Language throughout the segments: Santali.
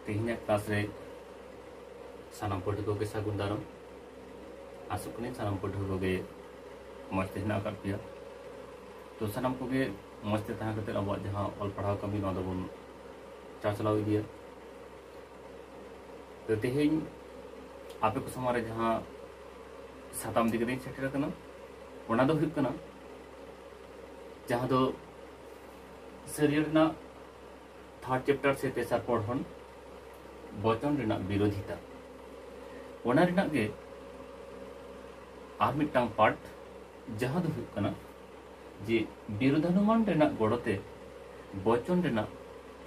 ᱛᱮᱦᱮᱧᱟᱜ ᱠᱞᱟᱥ ᱨᱮ ᱥᱟᱱᱟᱢ ᱯᱟᱹᱴᱷᱩᱣᱟᱹ ᱠᱚᱜᱮ ᱥᱟᱹᱜᱩᱱ ᱫᱟᱨᱟᱢ ᱟᱥᱚᱜ ᱠᱟᱹᱱᱟᱹᱧ ᱥᱟᱱᱟᱢ ᱯᱟᱹᱴᱷᱩᱣᱟᱹ ᱠᱚᱜᱮ ᱢᱚᱡᱽ ᱛᱮ ᱦᱮᱱᱟᱜ ᱟᱠᱟᱫ ᱯᱮᱭᱟ ᱛᱚ ᱥᱟᱱᱟᱢ ᱠᱚᱜᱮ ᱢᱚᱡᱽ ᱛᱮ ᱛᱟᱦᱮᱸ ᱠᱟᱛᱮ ᱟᱵᱚᱣᱟᱜ ᱡᱟᱦᱟᱸ ᱚᱞ ᱯᱟᱲᱦᱟᱣ ᱠᱟᱹᱢᱤ ᱱᱚᱣᱟ ᱫᱚᱵᱚᱱ ᱪᱟᱪᱞᱟᱣ ᱤᱫᱤᱭᱟ ᱛᱚ ᱛᱮᱦᱮᱧ ᱟᱯᱮ ᱠᱚ ᱥᱟᱢᱟᱝ ᱨᱮ ᱡᱟᱦᱟᱸ ᱥᱟᱛᱟᱢ ᱤᱫᱤ ᱠᱟᱛᱮᱧ ᱥᱮᱴᱮᱨ ᱟᱠᱟᱱᱟ ᱚᱱᱟ ᱫᱚ ᱦᱩᱭᱩᱜ ᱠᱟᱱᱟ ᱡᱟᱦᱟᱸ ᱫᱚ ᱥᱟᱹᱨᱤᱭᱟᱹᱲ ᱨᱮᱱᱟᱜ ᱛᱷᱟᱨᱰ ᱪᱮᱯᱴᱟᱨ ᱥᱮ ᱛᱮᱥᱟᱨ ᱯᱚᱲᱦᱚᱱ ᱵᱚᱪᱚᱱ ᱨᱮᱱᱟᱜ ᱵᱤᱨᱳᱫᱷᱤᱛᱟ ᱚᱱᱟ ᱨᱮᱱᱟᱜ ᱜᱮ ᱟᱨ ᱢᱤᱫᱴᱟᱝ ᱯᱟᱨᱴ ᱡᱟᱦᱟᱸ ᱫᱚ ᱦᱩᱭᱩᱜ ᱠᱟᱱᱟ ᱡᱮ ᱵᱤᱨᱳধানুমান ᱨᱮᱱᱟᱜ ᱜᱚᱲᱚᱛᱮ ᱵᱚᱪᱚᱱ ᱨᱮᱱᱟᱜ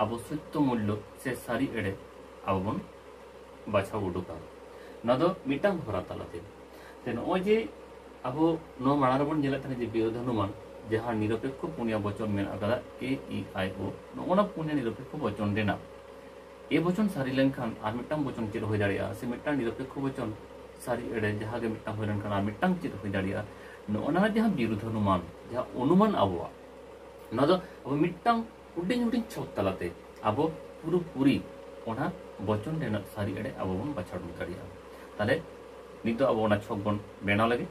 ᱟᱵᱚ ᱥᱚᱛᱭᱚ ᱢᱩᱞᱞᱚ ᱥᱮ ᱥᱟᱹᱨᱤ ᱮᱲᱮ ᱟᱵᱚ ᱵᱚᱱ ᱵᱟᱪᱷᱟᱣ ᱩᱰᱩᱠᱟ ᱱᱚᱣᱟ ᱫᱚ ᱢᱤᱫᱴᱟᱝ ᱦᱚᱨᱟ ᱛᱟᱞᱟᱛᱮ ᱱᱚᱜᱼᱚᱭ ᱡᱮ ᱟᱵᱚ ᱱᱚᱣᱟ ᱢᱟᱲᱟᱝ ᱨᱮᱵᱚᱱ ᱧᱮᱞᱮᱫ ᱛᱟᱦᱮᱸ ᱡᱮ ᱵᱤᱨᱳᱫᱷ ᱦᱚᱱᱩᱢᱟᱱ ᱡᱟᱦᱟᱸ ᱱᱤᱨᱚᱯᱮᱠᱷᱚ ᱯᱩᱱᱭᱟ ᱵᱚᱪᱚᱱ ᱢᱮᱱᱟᱜ ᱟᱠᱟᱫᱟ ᱮ ᱤ ᱟᱭ ᱳ ᱱᱚᱜᱼᱚᱱᱟ ᱯᱩᱱᱭᱟ ᱱᱤᱨᱚᱯᱮᱠᱷᱚ ᱵᱚᱪᱚᱱ ᱨᱮᱱᱟᱜ ᱮ ᱵᱚᱪᱚᱱ ᱥᱟᱹᱨᱤ ᱞᱮᱱᱠᱷᱟᱱ ᱟᱨ ᱢᱤᱫᱴᱟᱝ ᱵᱚᱪᱚᱱ ᱪᱮᱫ ᱦᱩᱭ ᱫᱟᱲᱮᱭᱟᱜᱼᱟ ᱥᱮ ᱢᱤᱫᱴᱟᱝ ᱱᱤᱨᱚᱯᱮᱠᱷᱚ ᱵᱚᱪᱚᱱ ᱥᱟᱹᱨᱤ ᱮᱲᱮ ᱡᱟᱦᱟᱸ ᱜᱮ ᱢᱤᱫᱴᱟᱝ ᱦᱩᱭ ᱞᱮᱱᱠᱷᱟᱱ ᱟᱨ ᱢᱤᱫᱴᱟᱝ ᱪᱮᱫ ᱦᱩᱭ ᱫᱟᱲᱮᱭᱟᱜᱼᱟ ᱱᱚᱜᱼᱚᱱᱟ ᱡᱟᱦᱟᱸ ᱵᱤᱨᱳᱫᱷ ᱦᱚᱱᱩᱢᱟᱱ ᱡᱟᱦᱟᱸ ᱚᱱᱩᱢᱟᱱ ᱟᱵᱚᱣᱟᱜ ᱱᱚᱣᱟ ᱫᱚ ᱟᱵᱚ ᱢᱤᱫᱴᱟᱝ ᱦᱩᱰᱤᱧ ᱦᱩᱰᱤᱧ ᱪᱷᱚᱠ ᱛᱟᱞᱟᱛᱮ ᱟᱵᱚ ᱯᱩᱨᱟᱹ ᱯᱩᱨᱤ ᱚᱱᱟ ᱵᱚᱪᱚᱱ ᱨᱮᱱᱟᱜ ᱥᱟᱹᱨᱤ ᱮᱲᱮ ᱟᱵᱚ ᱵᱚᱱ ᱵᱟᱪᱷᱟᱣ ᱩᱰᱩᱠ ᱫᱟᱲᱮᱭᱟᱜᱼᱟ ᱛᱟᱦᱞᱮ ᱱᱤᱛᱚᱜ ᱟᱵᱚ ᱚᱱᱟ ᱪᱷᱚᱠ ᱵᱚᱱ ᱵᱮᱱᱟᱣ ᱞᱟᱹᱜᱤᱫ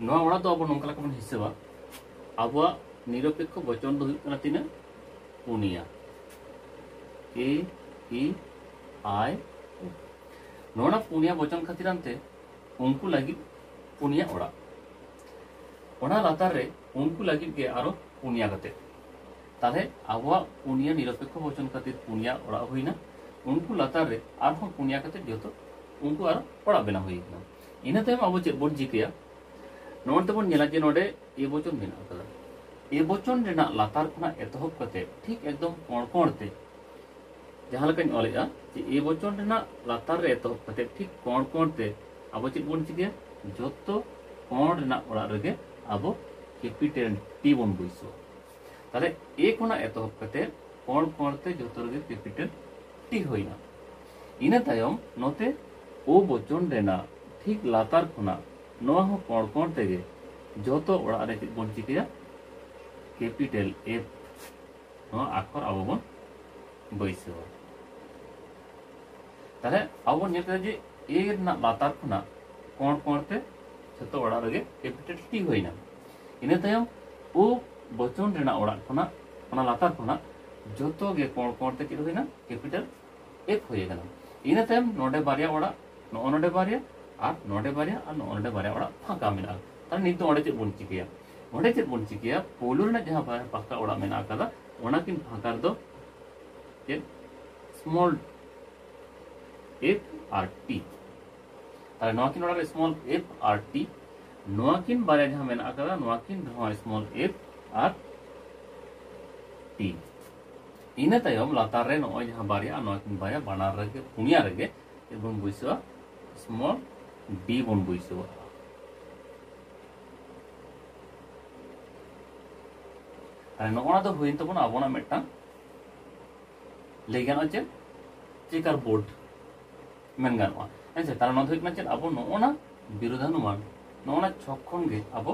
ᱱᱚᱣᱟ ᱚᱲᱟᱜ ᱫᱚ ᱟᱵᱚ ᱱᱚᱝᱠᱟ ᱞᱮᱠᱟ ᱵᱚᱱ ᱦᱤᱥᱟᱹᱵᱟ ᱟᱵᱚᱣᱟᱜ ᱱᱤᱨᱚᱯᱮᱠᱷᱚ ᱵᱚᱪᱚᱱ ᱫᱚ ᱦᱩᱭᱩᱜ ᱠᱟᱱᱟ ᱛᱤᱱᱟᱹᱜ ᱯᱩᱱᱭᱟ ᱮ ᱤ ᱟᱭ ᱳ ᱱᱚᱣᱟ ᱯᱩᱱᱭᱟ ᱵᱚᱪᱚᱱ ᱠᱷᱟᱹᱛᱤᱨ ᱟᱱᱛᱮ ᱩᱱᱠᱩ ᱞᱟᱹᱜᱤᱫ ᱯᱩᱱᱭᱟ ᱚᱲᱟᱜ ᱚᱱᱟ ᱞᱟᱛᱟᱨ ᱨᱮ ᱩᱱᱠᱩ ᱞᱟᱹᱜᱤᱫ ᱜᱮ ᱟᱨᱚ ᱯᱩᱱᱭᱟ ᱠᱟᱛᱮ ᱛᱟᱦᱞᱮ ᱟᱵᱚᱣᱟᱜ ᱯᱩᱱᱭᱟ ᱱᱤᱨᱚᱯᱮᱠᱷᱚ ᱵᱚᱪᱚᱱ ᱠᱷᱟᱹᱛᱤᱨ ᱯᱩᱱᱭᱟ ᱚᱲᱟᱜ ᱦᱩᱭᱱᱟ ᱩᱱᱠᱩ ᱞᱟᱛᱟᱨ ᱨᱮ ᱟᱨᱦᱚᱸ ᱯᱩᱱᱭᱟ ᱠᱟᱛᱮ ᱡᱚᱛᱚ ᱩᱱᱠᱩ ᱟᱨ ᱚᱲᱟᱜ ᱵᱮᱱᱟᱣ ᱦᱩᱭ ᱠᱟᱱᱟ ᱤᱱᱟᱹ ᱛᱟᱭᱚᱢ ᱟᱵᱚ ᱪᱮᱫ ᱵᱚᱱ ᱪᱤᱠᱟᱹᱭᱟ ᱱᱚᱣᱟ ᱛᱮᱵᱚᱱ ᱧᱮᱞᱟ ᱡᱮ ᱱᱚᱰᱮ ᱮ ᱵᱚᱪᱚᱱ ᱢᱮᱱᱟᱜ ᱟᱠᱟᱫᱟ ᱮ ᱵᱚᱪᱚᱱ ᱨᱮᱱᱟᱜ ᱞᱟᱛᱟᱨ ᱠᱷᱚᱱᱟᱜ ᱮᱛᱚᱦᱚᱵ ᱠᱟᱛᱮ ᱴᱷᱤᱠ ᱮᱠᱫᱚᱢ ᱠᱚᱬ ᱠᱚᱬ ᱛᱮ ᱡᱟᱦᱟᱸ ᱞᱮᱠᱟᱧ ᱚᱞᱮᱜᱼᱟ ᱡᱮ ᱮ ᱵᱚᱪᱚᱱ ᱨᱮᱱᱟᱜ ᱞᱟᱛᱟᱨ ᱨᱮ ᱮᱛᱚᱦᱚᱵ ᱠᱟᱛᱮ ᱴᱷᱤᱠ ᱠᱚᱬ ᱠᱚᱬ ᱛᱮ ᱟᱵᱚ ᱪᱮᱫ ᱵᱚᱱ ᱪᱤᱠᱟᱹᱭᱟ ᱡᱚᱛᱚ ᱠᱚᱬ ᱨᱮᱱᱟᱜ ᱚᱲᱟᱜ ᱨᱮᱜᱮ ᱟᱵᱚ ᱠᱮᱯᱤᱴᱮᱞ ᱴᱤ ᱵᱚᱱ ᱵᱟᱹᱭᱥᱟᱹᱣᱟ ᱛᱟᱦᱚᱞᱮ ᱮ ᱠᱷᱚᱱᱟᱜ ᱮᱛᱚᱦᱚᱵ ᱠᱟᱛᱮ ᱠᱚᱬ ᱠᱚᱬ ᱛᱮ ᱡᱚᱛᱚ ᱨᱮᱜᱮ ᱠᱮᱯᱤᱴᱟᱞ ᱴᱤ ᱦᱩᱭᱱᱟ ᱤᱱᱟᱹ ᱛᱟᱭᱚᱢ ᱱᱚᱛᱮ ᱳ ᱵᱚᱪᱚᱱ ᱨᱮᱱᱟᱜ ᱴᱷᱤᱠ ᱞᱟᱛᱟᱨ ᱠᱷᱚᱱᱟᱜ ᱱᱚᱣᱟ ᱦᱚᱸ ᱠᱚᱬ ᱠᱚᱬ ᱛᱮᱜᱮ ᱡᱚᱛᱚ ᱚᱲᱟᱜ ᱨᱮ ᱪᱮᱫ ᱵᱚᱱ ᱪᱤᱠᱟᱹᱭᱟ ᱠᱮᱯᱤᱴᱟᱞ ᱮᱯ ᱱᱚᱣᱟ ᱟᱠᱷᱚᱨ ᱟᱵᱚ ᱵᱚᱱ ᱵᱟᱹᱭᱥᱟᱹᱣᱟ ᱛᱟᱦᱚᱞᱮ ᱟᱵᱚ ᱵᱚᱱ ᱧᱮᱞ ᱠᱮᱫᱟ ᱡᱮ ᱮ ᱨᱮᱱᱟᱜ ᱞᱟᱛᱟᱨ ᱠᱷᱚᱱᱟᱜ ᱠᱚᱬ ᱠᱚᱬ ᱛᱮ ᱡᱷᱚᱛᱚ ᱚᱲᱟᱜ ᱨᱮᱜᱮ ᱠᱮᱯᱤᱴᱟᱞ ᱴᱤ ᱦᱩᱭᱱᱟ ᱤᱱᱟᱹ ᱛᱟᱭᱚᱢ ᱳ ᱵᱚᱪᱚᱱ ᱨᱮᱱᱟᱜ ᱚᱲᱟᱜ ᱠᱷᱚᱱᱟᱜ ᱚᱱᱟ ᱞᱟᱛᱟᱨ ᱠᱷᱚᱱᱟᱜ ᱡᱷᱚᱛᱚ ᱜᱮ ᱠᱚᱬ ᱠᱚᱬ ᱛᱮ ᱪᱮᱫ ᱦᱩᱭᱱᱟ ᱠᱮᱯᱤᱴᱟᱞ ᱮᱯ ᱦᱩᱭ ᱟᱠᱟᱱᱟ ᱤᱱᱟᱹ ᱛᱟᱭᱚᱢ ᱱᱚᱰᱮ ᱵᱟᱨᱭᱟ ᱚᱲᱟᱜ ᱱᱚᱜᱼᱚ ᱱᱚᱰᱮ ᱵᱟᱨᱭᱟ ᱟᱨ ᱱᱚᱰᱮ ᱵᱟᱨᱭᱟ ᱟᱨ ᱱᱚᱜᱼᱚ ᱱᱚᱰᱮ ᱵᱟᱨᱭᱟ ᱚᱲᱟᱜ ᱯᱷᱟᱸᱠᱟ ᱢᱮᱱᱟᱜᱼᱟ ᱛᱟᱦᱞᱮ ᱱᱤᱛ ᱫᱚ ᱚᱸᱰᱮ ᱪᱮᱫ ᱵᱚᱱ ᱪᱤᱠᱟᱹᱭᱟ ᱚᱸᱰᱮ ᱪᱮᱫ ᱵᱚᱱ ᱪᱤᱠᱟᱹᱭᱟ ᱯᱳᱭᱞᱳ ᱨᱮᱱᱟᱜ ᱡᱟᱦᱟᱸ ᱵᱟᱨᱭᱟ ᱯᱟᱠᱟ ᱚᱲᱟᱜ ᱢᱮᱱᱟᱜ ᱟᱠᱟᱫᱟ ᱚᱱᱟᱠᱤᱱ ᱯᱷᱟᱸᱠᱟ ᱨᱮᱫᱚ ᱪᱮᱫ ᱥᱢᱚᱞ ᱮᱯ ᱟᱨ ᱴᱤ ᱛᱟᱦᱞᱮ ᱱᱚᱣᱟ ᱠᱤᱱ ᱚᱲᱟᱜ ᱥᱢᱚᱞ ᱮᱯ ᱟᱨ ᱴᱤ ᱱᱚᱣᱟ ᱠᱤᱱ ᱵᱟᱨᱭᱟ ᱡᱟᱦᱟᱸ ᱢᱮᱱᱟᱜ ᱟᱠᱟᱫᱟ ᱱᱚᱣᱟ ᱠᱤᱱ ᱨᱮᱦᱚᱸ ᱥᱢᱚᱞ ᱮᱯ ᱟᱨ ᱴᱤ ᱤᱱᱟᱹ ᱛᱟᱭᱚᱢ ᱞᱟᱛᱟᱨ ᱨᱮ ᱱᱚᱜᱼᱚᱭ ᱡᱟᱦᱟᱸ ᱵᱟᱨᱭᱟ ᱱᱚᱣᱟ ᱠᱤᱱ ᱵᱟᱨᱭᱟ ᱵᱟᱱᱟᱨ ᱨᱮᱜᱮ ᱯᱩᱱᱭᱟ ᱨᱮᱜᱮ ᱵᱚᱱ ᱵᱟᱹᱭᱥᱟᱹᱣᱟ ᱥᱢᱚᱞ ᱰᱤ ᱵᱚᱱ ᱵᱟᱹᱭᱥᱟᱹᱣᱟ ᱱᱚᱜᱼᱚ ᱱᱟ ᱫᱚ ᱦᱩᱭᱮᱱ ᱛᱟᱵᱚᱱᱟ ᱟᱵᱚᱱᱟᱜ ᱢᱤᱫᱴᱟᱝ ᱞᱟᱹᱭ ᱜᱟᱱᱚᱜᱼᱟ ᱪᱮᱫ ᱪᱮᱠᱟᱨ ᱵᱳᱨᱰ ᱢᱮᱱ ᱜᱟᱱᱚᱜᱼᱟ ᱦᱮᱸ ᱥᱮ ᱛᱟᱦᱚᱞᱮ ᱱᱚᱣᱟ ᱫᱚ ᱦᱩᱭᱩᱜ ᱠᱟᱱᱟ ᱪᱮᱫ ᱟᱵᱚ ᱱᱚᱜᱼᱚᱱᱟ ᱵᱤᱨᱳᱫᱷᱟᱱᱩᱢᱟᱱ ᱱᱚᱜᱼᱚᱱᱟ ᱪᱷᱚᱠ ᱠᱷᱚᱱ ᱜᱮ ᱟᱵᱚ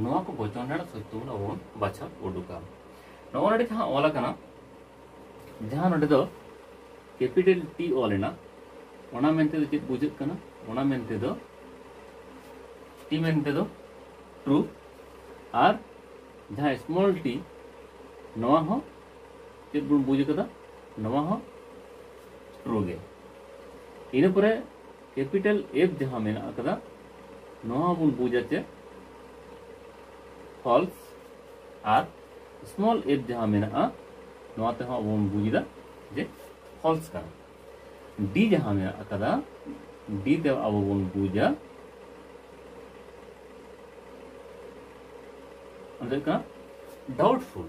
ᱱᱚᱣᱟ ᱠᱚ ᱵᱚᱪᱚᱱ ᱨᱮᱱᱟᱜ ᱥᱚᱛᱭᱚ ᱵᱚᱱ ᱟᱵᱚ ᱵᱚᱱ ᱵᱟᱪᱷᱟᱣ ᱩᱰᱩᱠᱟ ᱱᱚᱜᱼᱚ ᱱᱚᱰᱮ ᱡᱟᱦᱟᱸ ᱚᱞ ᱟᱠᱟᱱᱟ ᱡᱟᱦᱟᱸ ᱱᱚᱰᱮ ᱫᱚ ᱠᱮᱯᱤᱴᱟᱞ ᱴᱤ ᱚᱞ ᱮᱱᱟ ᱚᱱᱟ ᱢᱮᱱᱛᱮ ᱫᱚ ᱪᱮᱫ ᱵᱩᱡᱷᱟᱹᱜ ᱠᱟᱱᱟ ᱚᱱᱟ ᱢᱮᱱᱛᱮ ᱫᱚ ᱴᱤ ᱢᱮᱱᱛᱮ ᱫᱚ ᱴᱨᱩ ᱟᱨ ᱡᱟᱦᱟᱸ ᱥᱢᱚᱞ ᱴᱤ ᱱᱚᱣᱟ ᱦᱚᱸ ᱪᱮᱫ ᱵᱚᱱ ᱵᱩᱡᱽ ᱟᱠᱟᱫᱟ ᱱᱚᱣᱟ ᱦᱚᱸ ᱴᱨᱩ ᱜᱮ ᱤᱱᱟᱹ ᱯᱚᱨᱮ ᱠᱮᱯᱤᱴᱟᱞ ᱮᱯ ᱡᱟᱦᱟᱸ ᱢᱮᱱᱟᱜ ᱟᱠᱟᱫᱟ ᱱᱚᱣᱟ ᱵᱚᱱ ᱵᱩᱡᱟ ᱪᱮ ᱯᱷᱚᱞᱥ ᱟᱨ ᱥᱢᱚᱞ ᱮᱯ ᱡᱟᱦᱟᱸ ᱢᱮᱱᱟᱜᱼᱟ ᱱᱚᱣᱟ ᱛᱮᱦᱚᱸ ᱟᱵᱚ ᱵᱚᱱ ᱵᱩᱡᱽ ᱮᱫᱟ ᱡᱮ ᱯᱷᱚᱞᱥ ᱠᱟᱱᱟ ᱰᱤ ᱡᱟᱦᱟᱸ ᱢᱮᱱᱟᱜ ᱟᱠᱟᱫᱟ ᱰᱤ ᱛᱮ ᱟᱵᱚ ᱵᱚᱱ ᱵᱩᱡᱟ ᱚᱱᱟ ᱫᱚ ᱦᱩᱭᱩᱜ ᱠᱟᱱᱟ ᱰᱟᱣᱩᱴᱯᱷᱩᱞ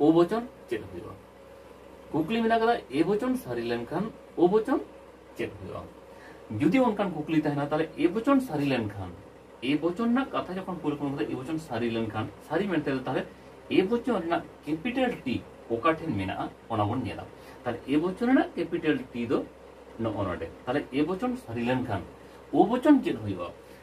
ᱳ ᱵᱚᱪᱚᱱ ᱪᱮᱫ ᱦᱩᱭᱩᱜᱼᱟ ᱠᱩᱠᱞᱤ ᱢᱮᱱᱟᱜ ᱠᱟᱫᱟ ᱮ ᱵᱚᱪᱚᱱ ᱥᱟᱹᱨᱤ ᱞᱮᱱᱠᱷᱟᱱ ᱳ ᱵᱚᱪᱚᱱ ᱪᱮᱫ ᱦᱩᱭᱩᱜᱼᱟ ᱡᱩᱫᱤ ᱚᱱᱠᱟᱱ ᱠᱩᱠᱞᱤ ᱛᱟᱦᱮᱱᱟ ᱛᱟᱦᱞᱮ ᱮ ᱵᱚᱪᱚᱱ ᱥᱟᱹᱨᱤ ᱞᱮᱱᱠᱷᱟᱱ ᱮ ᱵᱚᱪᱚᱱ ᱨᱮᱱᱟᱜ ᱠᱟᱛᱷᱟ ᱡᱚᱠᱷᱚᱱ ᱠᱩᱞ ᱠᱚ ᱮ ᱵᱚᱪᱚᱱ ᱥᱟᱹᱨᱤ ᱞᱮᱱᱠᱷᱟᱱ ᱥᱟᱹᱨᱤ ᱢᱮᱱᱛᱮ ᱛᱟᱦᱞᱮ ᱮ ᱵᱚᱪᱚᱱ ᱨᱮᱱᱟᱜ ᱠᱮᱯᱤᱴᱟᱞ ᱴᱤ ᱚᱠᱟ ᱴᱷᱮᱱ ᱢᱮᱱᱟᱜᱼᱟ ᱚᱱᱟ ᱵᱚᱱ ᱧᱮᱞᱟ ᱛᱟᱦᱞᱮ ᱮ ᱵᱚᱪᱚᱱ ᱨᱮᱱᱟᱜ ᱠᱮᱯᱤᱴᱟᱞ ᱴᱤ ᱫᱚ ᱱᱚᱜᱼᱚ ᱱᱚᱰᱮ ᱛᱟᱦᱞᱮ ᱮ ᱵᱚᱪᱚᱱ ᱥᱟᱹᱨᱤ ᱞᱮᱱᱠᱷᱟᱱ ᱳ ᱵᱚᱪᱚᱱ ᱪᱮᱫ ᱦᱩᱭᱩᱜᱼᱟ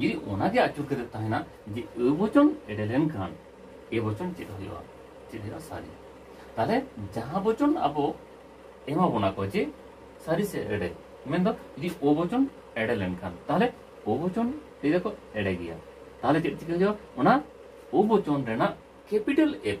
ᱡᱩᱫᱤ ᱚᱱᱟᱜᱮ ᱟᱹᱪᱩᱨ ᱠᱟᱛᱮ ᱛᱟᱦᱮᱱᱟ ᱡᱮ ᱟᱹ ᱵᱚᱪᱚᱱ ᱮᱰᱮ ᱞᱮᱱᱠᱷᱟᱱ ᱮ ᱵᱚᱪᱚᱱ ᱪᱮᱫ ᱦᱩᱭᱩᱜᱼᱟ ᱪᱮᱫ ᱦᱩᱭᱩᱜᱼᱟ ᱥᱟᱹᱨᱤ ᱛᱟᱦᱞᱮ ᱡᱟᱦᱟᱸ ᱵᱚᱪᱚᱱ ᱟᱵᱚ ᱮᱢᱟ ᱵᱚᱱᱟ ᱠᱚ ᱡᱮ ᱥᱟᱹᱨᱤ ᱥᱮ ᱮᱲᱮ ᱢᱮᱱᱫᱚ ᱡᱩᱫᱤ ᱚ ᱵᱚᱪᱚᱱ ᱮᱲᱮ ᱞᱮᱱᱠᱷᱟᱱ ᱛᱟᱦᱞᱮ ᱚ ᱵᱚᱪᱚᱱ ᱞᱟᱹᱭ ᱫᱟᱠᱚ ᱮᱲᱮ ᱜᱮᱭᱟ ᱛᱟᱦᱞᱮ ᱪᱮᱫ ᱪᱤᱠᱟᱹ ᱦᱩᱭᱩᱜᱼᱟ ᱚᱱᱟ ᱚ ᱵᱚᱪᱚᱱ ᱨᱮᱱᱟᱜ ᱠᱮᱯᱤᱴᱟᱞ ᱮᱯ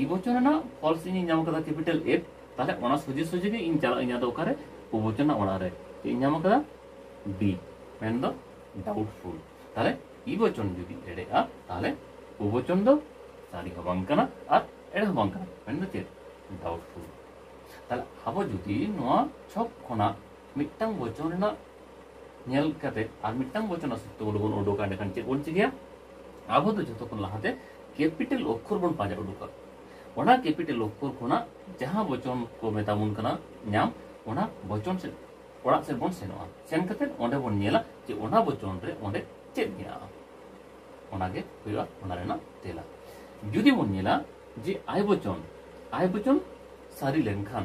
ᱤ ᱵᱚᱪᱚᱱ ᱨᱮᱱᱟᱜ ᱯᱷᱚᱞᱥ ᱤᱧ ᱧᱟᱢ ᱠᱟᱫᱟ ᱠᱮᱯᱤᱴᱟᱞ ᱮᱯ ᱛᱟᱦᱞᱮ ᱚᱱᱟ ᱥᱚᱡᱷᱮ ᱥᱚᱡᱷᱮ ᱜᱮ ᱤᱧ ᱪᱟᱞᱟᱜ ᱤᱧ ᱟᱫᱚ ᱚᱠᱟᱨᱮ ᱚ ᱵᱚᱪᱚᱱ ᱨᱮᱱᱟᱜ ᱚᱲᱟᱜ ᱨᱮ ᱪᱮᱫ ᱤᱧ ᱧᱟᱢ ᱠᱟᱫᱟ ᱰᱤ ᱢᱮᱱ ᱫᱚ ᱰᱟᱣᱩᱴᱯᱷᱩᱞ ᱛᱟᱦᱞᱮ ᱤ ᱵᱚᱪᱚᱱ ᱡᱩᱫᱤ ᱮᱲᱮᱜᱼᱟ ᱛᱟᱦᱞᱮ ᱚ ᱵᱚᱪᱚᱱ ᱫᱚ ᱥᱟᱹᱨᱤ ᱦᱚᱸ ᱵᱟᱝ ᱠᱟᱱᱟ ᱟᱨ ᱮᱲᱮ ᱦᱚᱸ ᱵᱟᱝ ᱠᱟᱱᱟ ᱢᱮᱱ ᱫᱚ ᱪᱮᱫ ᱰᱟᱣᱩᱴᱯᱷᱩᱞ ᱛᱟᱦᱞᱮ ᱟᱵᱚ ᱡᱩᱫᱤ ᱱᱚᱣᱟ ᱪᱷᱚᱠ ᱠᱷᱚᱱᱟᱜ ᱢᱤᱫᱴᱟᱝ ᱵᱚᱪᱚᱱ ᱨᱮᱱᱟᱜ ᱧᱮᱞ ᱠᱟᱛᱮ ᱟᱨ ᱢᱤᱫᱴᱟᱝ ᱵᱚᱪᱚᱱ ᱨᱮᱱᱟᱜ ᱥᱩᱛᱨᱚ ᱵᱚᱱ ᱩᱰᱩᱠᱟ ᱮᱸᱰᱮᱠᱷᱟᱱ ᱪᱮᱫ ᱵᱚᱱ ᱪᱤᱠᱟᱹᱭᱟ ᱟᱵᱚ ᱫᱚ ᱡᱚᱛᱚ ᱠᱷᱚᱱ ᱞᱟᱦᱟᱛᱮ ᱠᱮᱯᱤᱴᱟᱞ ᱚᱠᱠᱷᱚᱨ ᱵᱚᱱ ᱯᱟᱸᱡᱟ ᱩᱰᱩᱠᱟ ᱚᱱᱟ ᱠᱮᱯᱤᱴᱟᱞ ᱚᱠᱠᱷᱚᱨ ᱠᱷᱚᱱᱟᱜ ᱡᱟᱦᱟᱸ ᱵᱚᱪᱚᱱ ᱠᱚ ᱢᱮᱛᱟ ᱵᱚᱱ ᱠᱟᱱᱟ ᱧᱟᱢ ᱚᱱᱟ ᱵᱚᱪᱚᱱ ᱥᱮᱫ ᱚᱲᱟᱜ ᱥᱮᱫ ᱵᱚᱱ ᱥᱮᱱᱚᱜᱼᱟ ᱥᱮᱱ ᱠᱟᱛᱮ ᱚᱸᱰᱮ ᱵᱚᱱ ᱧᱮᱞᱟ ᱡᱮ ᱚᱱᱟ ᱵᱚᱪᱚᱱ ᱨᱮ ᱚᱸᱰᱮ ᱪᱮᱫ ᱢᱮᱱᱟᱜᱼᱟ ᱚᱱᱟᱜᱮ ᱦᱩᱭᱩᱜᱼᱟ ᱚᱱᱟ ᱨᱮᱱᱟᱜ ᱛᱮᱞᱟ ᱡᱩᱫᱤ ᱵᱚᱱ ᱧᱮᱞᱟ ᱡᱮ ᱟᱭ ᱵᱚᱪᱚᱱ ᱟᱭ ᱵᱚᱪᱚᱱ ᱥᱟᱹᱨᱤ ᱞᱮᱱᱠᱷᱟᱱ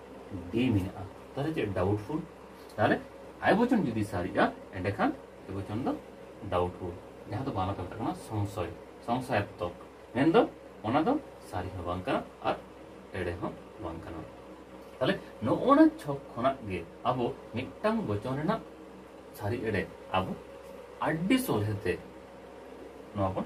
ᱰᱤ ᱢᱮᱱᱟᱜᱼᱟ ᱛᱟᱦᱚᱞᱮ ᱪᱮᱫ ᱰᱟᱣᱩᱴᱯᱷᱩᱞ ᱛᱟᱦᱚᱞᱮ ᱟᱭ ᱵᱚᱪᱚᱱ ᱡᱩᱫᱤ ᱥᱟᱹᱨᱤᱜᱼᱟ ᱮᱸᱰᱮᱠᱷᱟᱱ ᱟᱭ ᱵᱚᱪᱚᱱ ᱫᱚ ᱰᱟᱣᱩᱴᱯᱷᱩᱞ ᱡᱟᱦᱟᱸ ᱫᱚ ᱵᱟᱝᱞᱟ ᱛᱮ ᱢᱮᱛᱟᱜ ᱠᱟᱱᱟ ᱥᱚᱝᱥᱚᱭ ᱥᱚᱝᱥᱟᱭᱟᱛᱢᱚᱠ ᱢᱮᱱᱫᱚ ᱚᱱᱟ ᱫᱚ ᱥᱟᱹᱨᱤ ᱦᱚᱸ ᱵᱟᱝ ᱠᱟᱱᱟ ᱟᱨ ᱮᱲᱮ ᱦᱚᱸ ᱵᱟᱝ ᱠᱟᱱᱟ ᱛᱟᱦᱚᱞᱮ ᱱᱚᱜᱼᱚᱱᱟ ᱪᱷᱚᱠ ᱠᱷᱚᱱᱟᱜ ᱜᱮ ᱟᱵᱚ ᱢᱤᱫᱴᱟᱝ ᱵᱚᱪᱚᱱ ᱨᱮᱱᱟᱜ ᱥᱟᱹᱨᱤ ᱮᱲᱮ ᱟᱵᱚ ᱟᱹᱰᱤ ᱥᱚᱞᱦᱮᱛᱮ ᱱᱚᱣᱟ ᱵᱚᱱ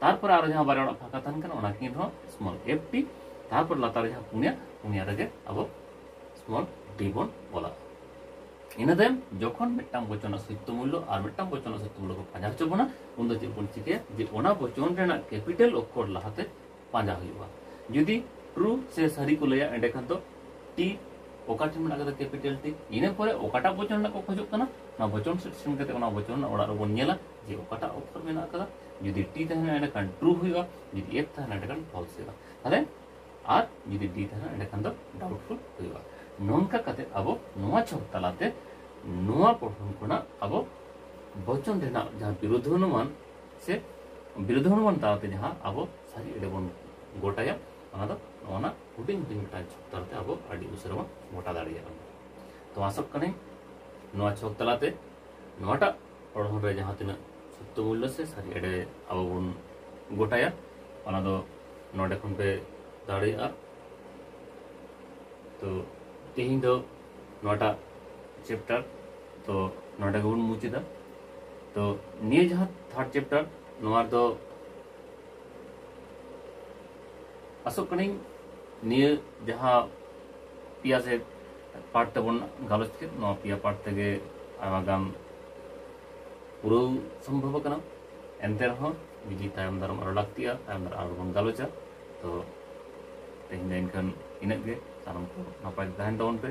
ᱛᱟᱨᱯᱚᱨ ᱟᱨᱚ ᱡᱟᱦᱟᱸ ᱵᱟᱨᱭᱟ ᱚᱲᱟᱜ ᱯᱷᱟᱸᱠᱟ ᱛᱟᱦᱮᱱ ᱠᱟᱱᱟ ᱚᱱᱟ ᱠᱤᱱ ᱨᱮᱦᱚᱸ ᱥᱢᱚᱞ ᱮᱯᱷ ᱴᱤ ᱛᱟᱨᱯᱚᱨ ᱞᱟᱛᱟᱨ ᱡᱟᱦᱟᱸ ᱯᱩᱱᱭᱟ ᱯᱩᱱᱭᱟ ᱨᱮᱜᱮ ᱟᱵᱚ ᱥᱢᱚᱞ ᱰᱤ ᱵᱚᱱ ᱚᱞᱟ ᱤᱱᱟᱹ ᱛᱟᱭᱚᱢ ᱡᱚᱠᱷᱚᱱ ᱢᱤᱫᱴᱟᱝ ᱵᱚᱪᱚᱱᱟᱜ ᱥᱚᱭᱛᱚ ᱢᱩᱞᱞᱚ ᱟᱨ ᱢᱤᱫᱴᱟᱝ ᱵᱚᱪᱚᱱᱟᱜ ᱥᱚᱭᱛᱚ ᱢᱩᱞᱞᱚ ᱠᱚ ᱯᱟᱸᱡᱟ ᱦᱚᱪᱚ ᱵᱚᱱᱟ ᱩᱱ ᱫᱚ ᱪᱮᱫ ᱵᱚᱱ ᱪᱤᱠᱟᱹᱭᱟ ᱡᱮ ᱚᱱᱟ ᱵᱚᱪᱚᱱ ᱨᱮᱱᱟᱜ ᱠᱮᱯᱤᱴᱟᱞ ᱚᱠᱠᱷᱚᱨ ᱞᱟᱦᱟᱛᱮ ᱯᱟᱸᱡᱟ ᱦᱩᱭᱩᱜᱼᱟ ᱡᱩᱫᱤ ᱴᱨᱩ ᱥᱮ ᱥᱟᱹᱨᱤ ᱠᱚ ᱞᱟᱹᱭᱟ ᱮᱸᱰᱮᱠᱷᱟᱱ ᱫᱚ ᱴᱤ ᱚᱠᱟ ᱴᱷᱮᱱ ᱢᱮᱱᱟᱜ ᱠᱟᱫᱟ ᱠᱮᱯᱤᱴᱟᱞ ᱴᱤ ᱤᱱᱟᱹ ᱯᱚᱨᱮ ᱚᱠᱟᱴᱟᱜ ᱵᱚᱪᱚᱱ ᱨᱮᱱᱟᱜ ᱠᱚ ᱠᱷᱚᱡᱚᱜ ᱠᱟᱱᱟ ᱚᱱᱟ ᱵᱚᱪᱚᱱ ᱥᱮᱴ ᱥᱮᱱ ᱠᱟᱛᱮ ᱚᱱᱟ ᱵᱚᱪᱚᱱ ᱨᱮᱱᱟᱜ ᱚᱲᱟᱜ ᱨᱮᱵᱚᱱ ᱧᱮᱞᱟ ᱡᱮ ᱚᱠᱟᱴᱟᱜ ᱚᱠᱠᱷᱚᱨ ᱢᱮᱱᱟᱜ ᱠᱟᱫᱟ ᱡᱩᱫᱤ ᱴᱤ ᱛᱟᱦᱮᱱᱟ ᱮᱸᱰᱮᱠᱷᱟᱱ ᱴᱨᱩ ᱦᱩᱭᱩᱜᱼᱟ ᱡᱩᱫᱤ ᱮᱯᱷ ᱛᱟᱦᱮᱱᱟ ᱮᱸᱰᱮᱠᱷᱟᱱ ᱯᱷᱚᱞᱥ ᱦᱩᱭᱩᱜᱼᱟ ᱛᱟᱦᱚᱞᱮ ᱟᱨ ᱡᱩᱫᱤ ᱰᱤ ᱛᱟᱦᱮᱱᱟ ᱮᱸᱰᱮᱠᱷᱟᱱ ᱫᱚ ᱰᱟᱣᱩᱴᱯᱷᱩᱞ ᱦᱩᱭᱩᱜᱼᱟ ᱱᱚᱝᱠᱟ ᱠᱟᱛᱮ ᱟᱵᱚ ᱱᱚᱣᱟ ᱪᱷᱚᱠ ᱛᱟᱞᱟᱛᱮ ᱱᱚᱣᱟ ᱯᱚᱲᱦᱚᱱ ᱠᱷᱚᱱᱟᱜ ᱟᱵᱚ ᱵᱚᱪᱚᱱ ᱨᱮᱱᱟᱜ ᱡᱟᱦᱟᱸ ᱵᱤᱨᱳᱫᱷ ᱚᱱᱩᱢᱟᱱ ᱥᱮ ᱵᱤᱨᱳᱫᱷ ᱚᱱᱩᱢᱟᱱ ᱛᱟᱞᱟᱛᱮ ᱡᱟᱦᱟᱸ ᱟᱵᱚ ᱥᱟᱹᱨᱤ ᱮᱲᱮ ᱵᱚᱱ ᱜᱚᱴᱟᱭᱟ ᱚᱱᱟ ᱫᱚ ᱱᱚᱣᱟ ᱦᱩᱰᱤᱧ ᱦᱩᱰᱤᱧ ᱢᱤᱫᱴᱟᱝ ᱪᱷᱚᱠ ᱛᱟᱞᱟᱛᱮ ᱟᱵᱚ ᱟᱹᱰᱤ ᱩᱥᱟᱹᱨᱟ ᱵᱚᱱ ᱜᱚᱴᱟ ᱫᱟᱲᱮᱭᱟᱜᱼᱟ ᱛᱚ ᱟᱥᱚᱜ ᱠᱟᱹᱱᱟᱹᱧ ᱱᱚᱣᱟ ᱪᱷᱚᱠ ᱛᱟᱞᱟᱛᱮ ᱱᱚᱣᱟᱴᱟᱜ ᱯᱚᱲᱦᱚᱱ ᱨᱮ ᱡᱟᱦᱟᱸ ᱛᱤᱱᱟᱹᱜ ᱥᱚᱛᱛᱚ ᱢᱩᱞᱞᱚ ᱥᱮ ᱥᱟᱹᱨᱤ ᱮᱲᱮ ᱟᱵᱚ ᱵᱚᱱ ᱜᱚᱴᱟᱭᱟ ᱚᱱᱟ ᱫᱚ ᱱᱚᱰᱮ ᱠᱷᱚᱱ ᱯᱮ ᱫᱟᱲᱮᱭᱟᱜᱼᱟ ᱛᱚ ᱛᱮᱦᱮᱧ ᱫᱚ ᱱᱚᱣᱟᱴᱟᱜ ᱪᱮᱯᱴᱟᱨ ᱛᱚ ᱱᱚᱰᱮ ᱜᱮᱵᱚᱱ ᱢᱩᱪᱟᱹᱫᱟ ᱛᱚ ᱱᱤᱭᱟᱹ ᱡᱟᱦᱟᱸ ᱛᱷᱟᱨᱰ ᱪᱮᱯᱴᱟᱨ ᱱᱚᱣᱟ ᱫᱚ ᱟᱥᱚᱜ ᱠᱟᱹᱱᱟᱹᱧ ᱱᱤᱭᱟᱹ ᱡᱟᱦᱟᱸ ᱯᱮᱭᱟ ᱥᱮ ᱯᱟᱴ ᱛᱮᱵᱚᱱ ᱜᱟᱞᱚᱪ ᱠᱮᱫ ᱱᱚᱣᱟ ᱯᱮᱭᱟ ᱯᱟᱴ ᱛᱮᱜᱮ ᱟᱭᱢᱟ ᱜᱟᱱ ᱯᱩᱨᱟᱹᱣ ᱥᱚᱢᱵᱷᱚᱵ ᱟᱠᱟᱱᱟ ᱮᱱᱛᱮ ᱨᱮᱦᱚᱸ ᱡᱩᱫᱤ ᱛᱟᱭᱚᱢ ᱫᱟᱨᱟᱢ ᱟᱨᱚ ᱞᱟᱹᱠᱛᱤᱜᱼᱟ ᱛᱟᱭᱚᱢ ᱫᱟᱨᱟᱢ ᱟᱨᱚ ᱵᱚᱱ ᱜᱟᱞᱚᱪᱟ ᱛᱚ ᱛᱮᱦᱮᱧ ᱫᱚ ᱮᱱᱠᱷᱟᱱ ᱤᱱᱟᱹᱜ ᱜᱮ ᱥᱟᱱᱟᱢ ᱠᱚ ᱱᱟᱯᱟᱭ ᱛᱟᱦᱮᱱ ᱛᱟᱵᱚᱱ ᱯᱮ